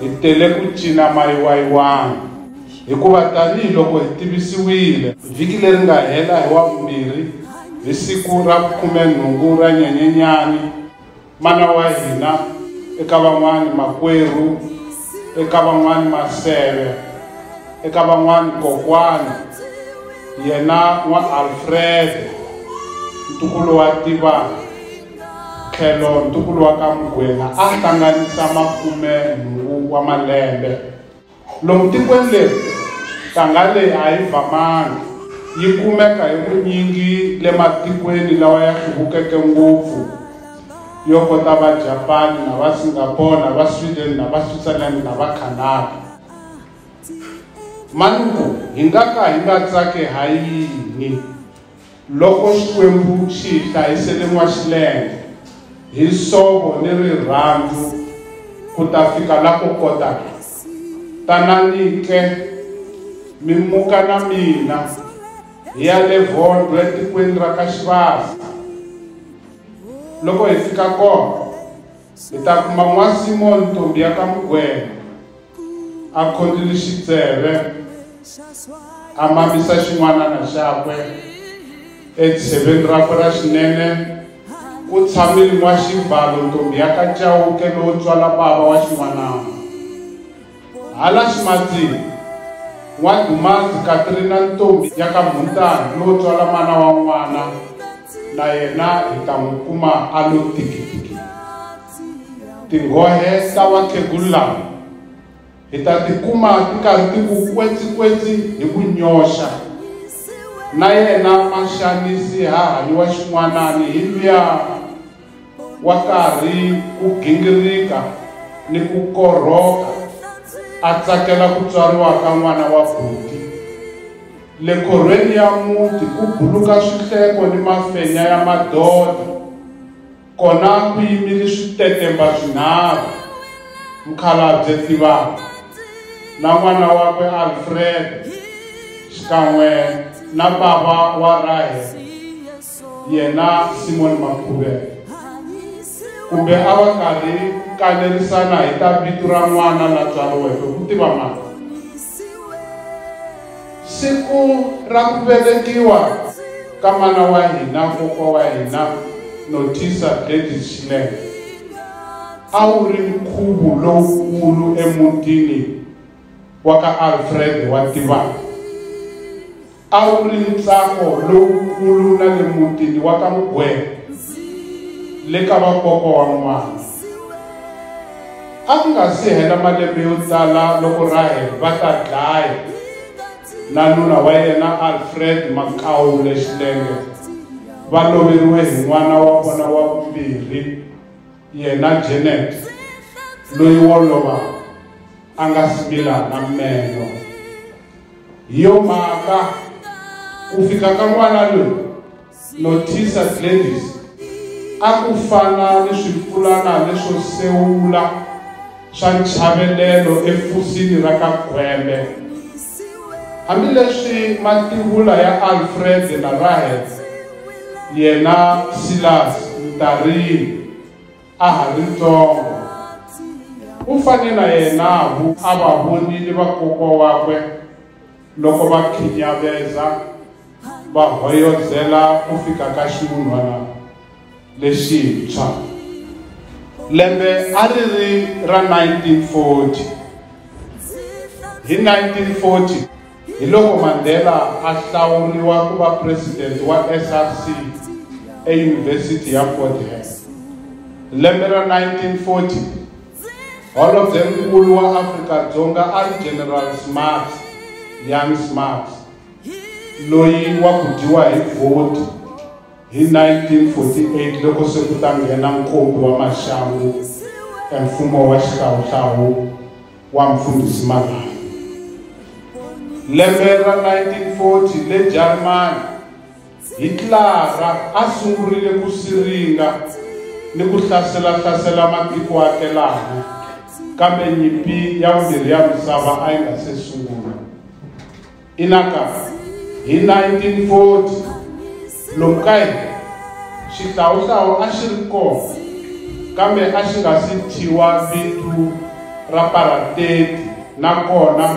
Hi tele ku cina mayiwayiwani hikuva tanihi loko hi tivisiwile vhiki leri nga hela hi Wavumbirhi hi siku ra khumenhungu ra Nyenyenyani, mana wa hina, eka van'wana makwerhu, eka van'wana maseve, eka van'wana kokwana, yena N'wa-Alfrede, ntukulu wa Tivani. tlhelo ntukulu wa ka Mugwena a hlanganisa makume nhungu wa malembe. Lomu tikweni leri, ntanga leyi a yi vamangi, yi kumeka hi vunyingi le matikweni lawa ya hluvukeke ngopfu yo kota va Japani na va Singapore na va Sweden na va Switzerland na va Canada. Manuku, hi nga ka hi nga tsaki ha yini? Loko Xikwembu xi hi hlayisele n'waxilenge hi nsovo ni rirhandzu ku ta fika la ko kotaka, tanani-ke mi muka na mina hi ya le Vondwe etikweni ra ka Xivasa. Loko hi fika kona, Hi ta kuma n'wasimoni ntombi ya ka mugwena a khondzile xitseve a mamisa xin'wanana xakwe etsheveni rakwe ra xinene ku tshamile n'waxibalo ntombi ya ka cawuke lowo tswala bava wa xin'wanana Hala ximatsini, N'wadumanzi Katrina ntombi ya ka Mhuntahi yo tswala mana wa n'wana na yena hi ta n'wi kuma a lo tikitiki. Tinghohe ta vakhegulu lava hi ta ti kuma ti karhi ti ku kwetsikwetsi hi ku nyoxa. Na yena Maxanisi ha hanyiwa xin'wanani hi luya. wa karhi ku gingirika ni ku korhoka a tsakela ku tswariwa ka n'wana wa buti. Le khorhweni ya muti ku buluka swihleko ni mafenya ya madodha, kona ku yimile switetemba swinharhu, Mukhalabye Tivaka na n'wana wakwe Alfred xikan'we na bava wa Rahel. yena Simon Makhuvela kumbe a va karhi ku kanerisana hi ta vito ra n'wana la tswariweke ku tiva mani siku ra ku velekiwa ka mana wa hina kokwa wa hina notisa gladys xinene a wu ri nkhuvo lowukulu emutini wa ka Alfred wa tivaka a wu ri ntsako lowukulu na le mutini wa ka mugwena le ka vakoko wa n'wana a ku nga si hela malembe yo tala loko rahel va ta dlaya na nuna wa yena alfred makawu lexilenge va loveriwe hi n'wana wa vona wa vumbirhi Yena Janet loyi wo lova a nga smila na meno. Hi yo mhaka ku fika ka n'wana loyi Nothisa Gladys a ku fana ni swipfulana leswo sewula. swa nchavelelo efusini ra ka Gwembe. Hambileswi mativula ya Alfred na Rahel yena Silas Mtarini a ha ri ntsongo u fane na yena a va vonile vakokwa wakwe loko va khinyaveza va hoyozela ku fika ka xivulwana lexintshwa lembe a ri ri ra 1940 hi 1940 hi loko mandela a hlawuriwa ku va presidente wa src eyunivhesiti ya fort hare lembe ra 1940 holobyenkulu wa afrika-dzonga a ri general smarts young smarts loyi wa ku dyiwa hi vhoti hi 1948 loko se ku ta nghena nkombi wa maxangu emfumo wa xihlawuhlawu wa mfundhisi malani lembe ra 1940 le jarimani Hitlara a sungurile ku siringa ni ku hlasela-hlasela matiko akelana, kambe nyimpi ya vumbirhi ya misava a yi nga se sungula. Inaka, hi 1940 lomu ka hina xihlawuhlawu a xi ri kona kambe a xi nga si thyiwa vito ra parateti nakona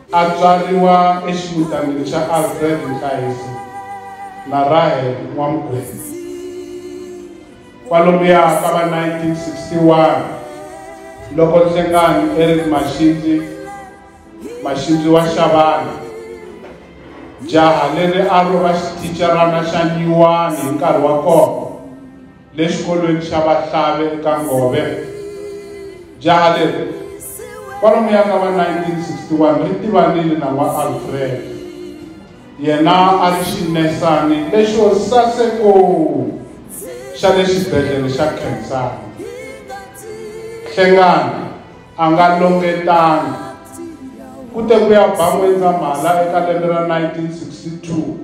A tswariwa eximutanini xa Alfred Nkayiso na Rahel N'wamgwenya. Kwalomuya ka va 1961 loko Nhlengani Eric Maxindzi, Maxindzi wa Xavana, jaha leri a ro va xithicarana xa nyuwani hi nkarhi wa kona, le xikolweni xa vahlave eka ngove jaha leri kwalomu ya ka va 1961 ri tivanile na wa alfred yena a ri xinesani lexo saseko xa le xibedhlele xa khensani hlengani a nga longetanga ku te ku ya ba n'wendzamhala eka lembe ra 1962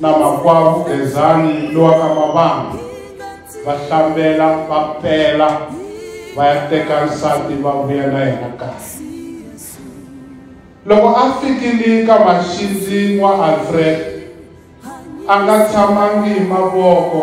na makwavo Gezani lowa ka Mavanga va hlambela va pela va ya teka nsati va vuya na yena kahle loko a fikile ka maxindzi wa Alfred a nga tshamangi hi mavoko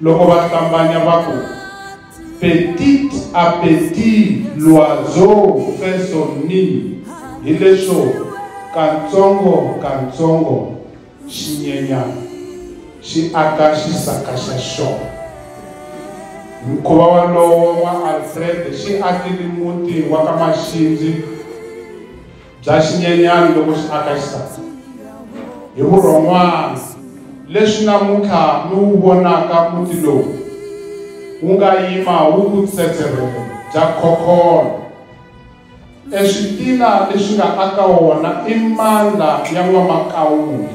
loko va hlambanya va ku petit appetit l'oiseau fait son nid hileswo katsongo katsongo xinyenyana xi aka xisaka xa xona mukhuva walowo wa alfred xi akile muti wa ka maxindzi bya xinyenyani loko xi aka xisati hi vurhon'wana leswi namuntlha mi wu vonaka muti lowu wu nga yima wu ku tsetserhele bya khokholo eswitila leswi nga aka wona i mandla ya n'wamakawula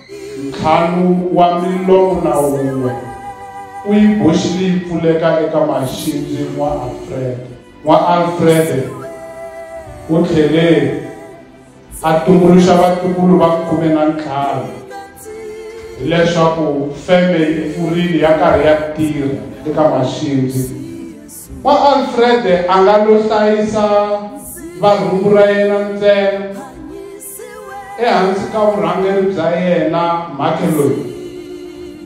Ntlhanu wa milomu na wun'we u yi boxile yi pfuleka eka maxindzi. N'wa-Alfrede N'wa-Alfrede u tlhele a tumbuluxa vatukulu va khume na ntlhanu hileswaku feme yi pfurile ya karhi ya tirha eka maxindzi. Wa Alfrede a nga lo hlayisa varhumbu ra yena ntsena ehansi ka vurhangeri bya yena mhake loyi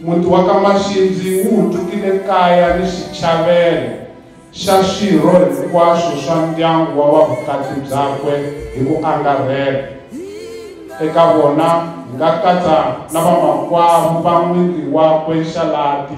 muti wa ka maxindzi wu hutukile kaya ni xichavelo xa swirho hinkwaswo swa ndyangu wa vavukati byakwe hi ku angarhela eka vona hi nga katsa na vamakwavo va n'wingi wakwe xalati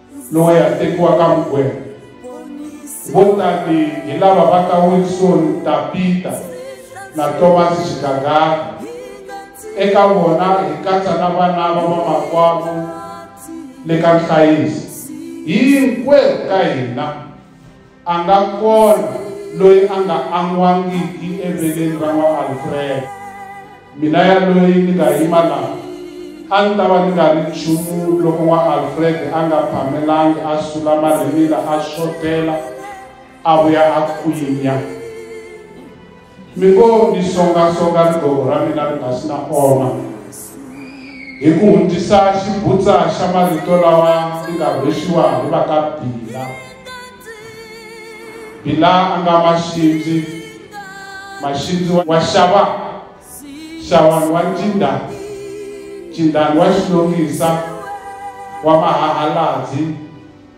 loyi a tekiwaka mugwena vo tani hi lava va ka wilson tapita na thomas xigagaka eka vona hi katsa na vana va vamakwavo le ka nhlayiso hinkwerhu ka hina A nga kona loyi a nga an'wangiki eveleni ra n'wa-Alfred. Mina yaloyi ni nga yima la, a ni ta va ni nga ri nchumu loko n'wa-Alfred a nga phamelangi a sula marhimila a xotela a vuya a kwinya. mi ngo ni songasonga rigogo ra mina ri nga si na oma hi ku hundzisa xibutsa xa marito lawa ni nga rhwexiwa hi va ka bila bila a nga maxindzi maxindzi wa xava xavani wa ncinda cindani wa xilongisa wa mahahaladzi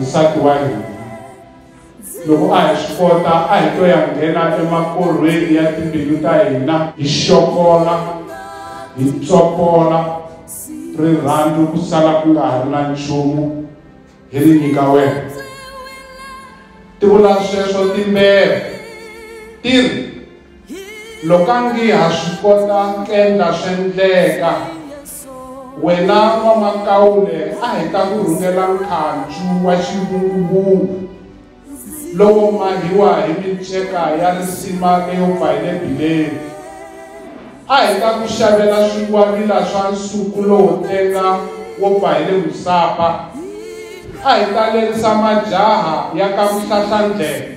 nsati wa hina loko a hi swi kota a hi to ya nghena emakorhweni ya timbilu ta hina hi xokola hi tsopola rirhandzu ku sala ku nga ha ri na nchumu hi ri nyika wena ti vula sweswo timbele ti ri Loko a ngi ha swi kota k'endla sw'endleka, wena N'wamakaule a hi ta ku rhungela nkhancu wa xivunguvungu lowo mahiwa hi minceka ya risima leyo pfa hi le bileni. A hi ta ku xavela swingwavila swa nsuku lowo tenga wo pfa hi le Musapa. A hi ta lerisa majaha ya ka Vuhlahlandlela.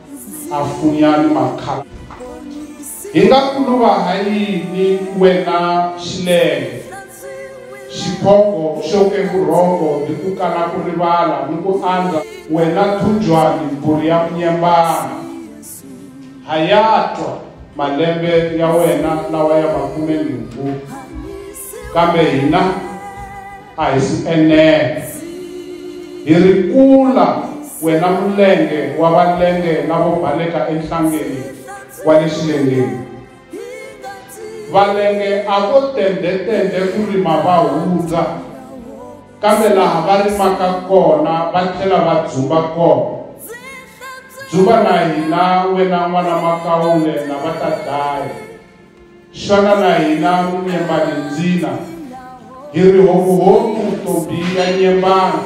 a funya ni makhamba hi nga kuluva ha yini wena xilenge xiphongo xo kevurhongo ni ku kala ku rivala ni ku andza wena thunjwani mbhuri ya munyembana ha ya twa malembe ya wena lawa ya makume nhungu kambe hina a hi si enela hi ri kula wena mulenge wa valenge lavo baleka enhlangeni wa le xilengeni valenge a vo tendhetendhe ku rima va hundza kambe laha va rimaka kona va tlhela va dzumba kona dzuva na hina wena n'wana makawule na va ta dlaya Xana na hina Nyembalindzila hi ri homuhomu to biya nyembana?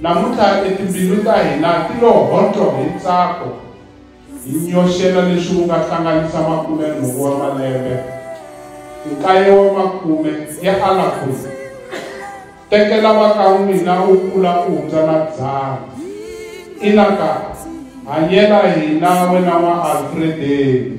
Namuntlha e timbilu ta hina ti lo hontlo hi ntsako, hi nyoxela leswi wu nga hlanganisa makume-nhungu wa malembe, nkaye wa makume ya alakhuza. Tekela va ka n'wina u kula u hundza na dzana. Ina ka, hanyela hina wena n'wa Alfredeni.